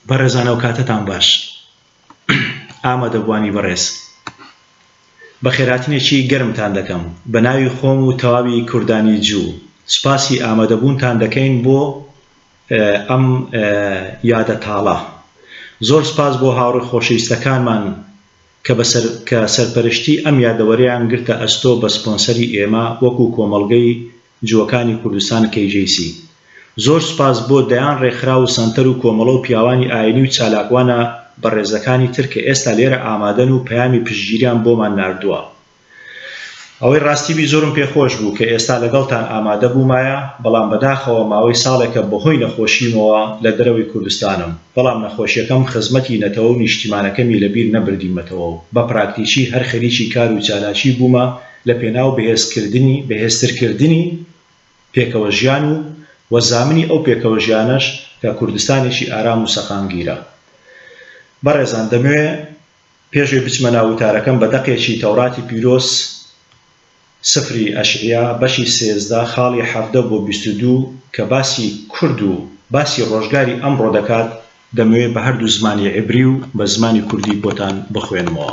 بەڕێزان ئەو کاتەتان باش ئامادەبوانی بەڕێز بە خێراتنێکی گەرمتان دەکەم بە ناوی خۆم و تەواوی کوردانی جوو سوپاسی ئامادەبوونتان دەکەین بۆ ئەم یادە تاڵە زۆر سپاس بۆ هاوڕێ خۆشەویستەکانمان کە بەسەر کە سەرپەرشتی ئەم یادەوەریان گرتە ئەستۆ بە سپۆنسەری ئێمە وەکو کۆمەڵگەی جووەکانی کوردستان KJC. زۆر سوپاس بۆ دەیان ڕێکخراو و سەنتەر و کۆمەڵە و پیاوانی ئاینی و چالاکوانە بەڕێزەکانی تر کە ئێستا لێرە ئامادەن و پەیامی پشتگیریان بۆمان ناردووە. ئەوەی ڕاستی بی زۆرم پێ خۆش بوو کە ئێستا لەگەڵتان ئامادە بوومایە بەڵام بەداخەوە ماوەی ساڵێکە بەهۆی نەخۆشیمەوە لە دەرەوەی کوردستانم بەڵام نەخۆشیەکەم خزمەتی نەتەوە و نیشتیمانەکەمی لە بیر نەبردیمەتەوە و بە پراکتیکی هەر خەریکی کار و چالاکی بوومە لە پێناو بەهێزکردنی بەهێزترکردنی پێکەوەژیان و و زامنی ئەو پێکەوەژیانەش کە کوردستانێکی ئارام و سەقامگیرە. بەڕێزان دەمەوێ پێشوەی بچمە ناو وتارەکەم بە دەقێکی تەوراتی پیرۆز سفری ئەشعیا بەشی سێزدە خاڵی حەڤدە بۆ بیست و دوو کە باسی کورد و باسی ڕۆژگاری ئەمڕۆ دەکات دەمەوێ بە هەردوو زمانی عیبری و بە زمانی کوردی بۆتان بخوێنمەوە.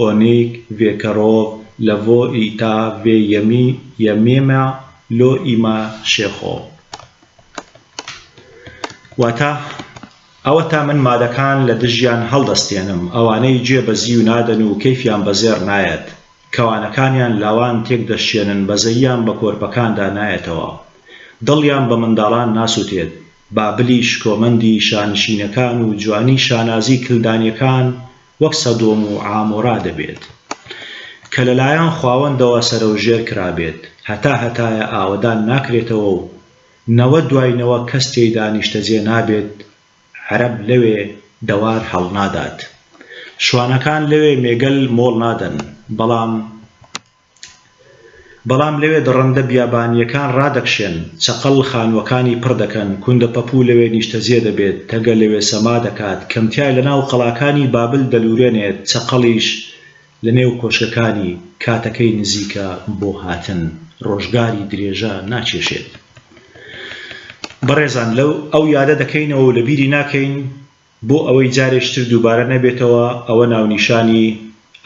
ئۆنیگ ڤێکەرۆڤ لە ڤۆ ئیتا ڤێ یەمی یە مێمە لۆ ئیما شێخۆ. واتە، ئەوەتا من مادەکان لە دژیان هەڵدەستێنم، ئەوانەی جێ بەزیو نادەن و کەیفیان بە زێڕ نایەت، کەوانەکانیان لاوان تێک دەشکێنن بەزەییان بە کۆرپەکاندا نایەتەوە. دڵیان بە منداڵان ناسوتێت. بابلی شکۆمەندی شانشینەکان و جوانی شانازی کلدانیەکان وەک سەدۆم و عامۆرا دەبێت کە لەلایەن خواوەندەوە سەرەوژێر کرابێت، هەتا هەتایە ئاوەدان ناکرێتەوە و نەوە دوای نەوە کەس تێیدا نیشتەجێ نابێت، عەرەب لەوێ دەوار هەڵنادات، شوانەکان لەوێ مێگەل مۆڵ نادەن، بەڵام. بەڵام لەوێ دڕندە بیابانییەکان ڕادەکشێن، چەقەڵ خانووەکانی پڕ دەکەن، کوندە پەپوو لەوێ نیشتەجێ دەبێت، تەگە لەوێ سەما دەکات، کەمتیار لەناو قەڵاکانی بابل دەلوورێنێت، چەقەڵیش لەنێو کۆشکەکانی. کاتەکەی نزیکە بۆ هاتن. ڕۆژگاری درێژە ناکێشێت. بەڕێزان، لەو ئەو یادە دەکەینەوە و لەبیری ناکەین، بۆ ئەوەی جارێکی تر دووبارە نەبێتەوە، ئەوە ناونیشانی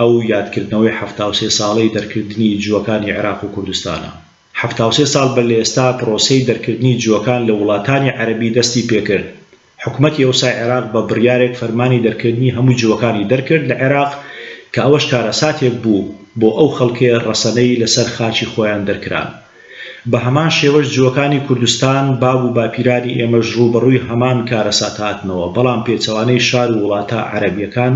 ئەو یادکردنەوەی حەفتا و سێ ساڵەی دەرکردنی جووەکانی عێراق و کوردستانە. حەفتا و سێ ساڵ بەر لە ئێستا پرۆسەی دەرکردنی جووەکان لە وڵاتانی عەرەبی دەستی پێکرد. حکومەتی ئەوسای عێراق بە بڕیارێک فەرمانی دەرکردنی هەموو جووەکانی دەرکرد لە عێراق کە ئەوەش کارەساتێک بوو بۆ ئەو خەڵکەی ڕەسەنەی لەسەر خاکی خۆیان دەرکران. بە هەمان شێوەش جووەکانی کوردستان، باب و باپیرانی ئێمەش ڕووبەڕووی هەمان کارەسات هاتنەوە، بەڵام پێچەوانەی شار و وڵاتە عەرەبییەکان،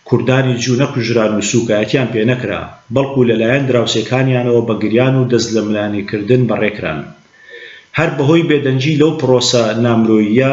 کوردانی جوو نەکوژران و سووکایەتیان پێ نەکرا، بەڵکوو لە لایەن دراوسێکانیانەوە بە گریان و دەست لە ملانێکردن بەڕێ کران. هەر بەهۆی بێدەنگی لەو پڕۆسە نامرۆییە،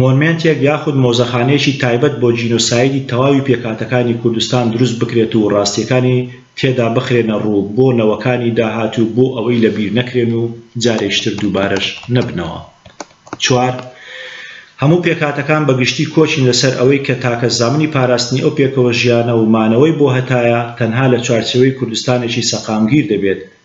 مۆنمێنتێک یاخود مۆزەخانەیەکی تایبەت بۆ جینۆسایدی تەواوی پێکهاتەکانی کوردستان دروست بکرێت و ڕاستییەکانی تێدا بخرێنە ڕوو بۆ نەوەکانی داهاتوو بۆ ئەوەی لە بیر نەکرێن و جارێکیتر دووبارەش نەبنەوە چوار هەموو پێکهاتەکان بە گشتی کۆچین لەسەر ئەوەی کە تاکە زامنی پاراستنی ئەو پێکەوەژیانە و مانەوەی بۆ هەتایە تەنها لە چوارچێوەی کوردستانێکی سەقامگیر دەبێت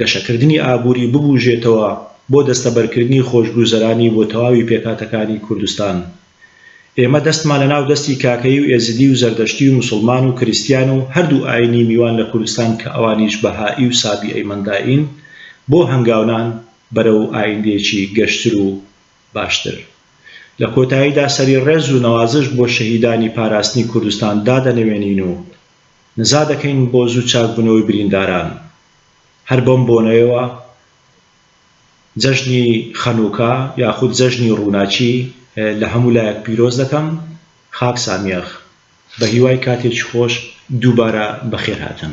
گەشەکردنی ئابووری ببوژێتەوە بۆ دەستەبەرکردنی خۆشگوزەرانی بۆ تەواوی پێکهاتەکانی کوردستان. ئێمە دەستمان لە ناو دەستی کاکەیی و ئێزیدی و زەردەشتی و موسڵمان و کریستیان و هەردوو ئاینی میوان لە کوردستان کە ئەوانیش بەهائی و سابیئەی مەندائین بۆ هەنگاونان بەرەو ئایندەیەکی گەشتر و باشتر. لە کۆتاییدا سەری ڕێز و نەوازش بۆ شەهیدانی پاراستنی کوردستان دادەنەوێنین و نزا دەکەین بۆ زوو چاکبوونەوەی برینداران. هەر بەم بۆنەیەوە جەژنی خەنووکە یاخود جەژنی ڕووناکی لە هەموو لایەک پیرۆز دەکەم خاک سامیەخ بە هیوای کاتێکی خۆش دووبارە بەخێرهاتن.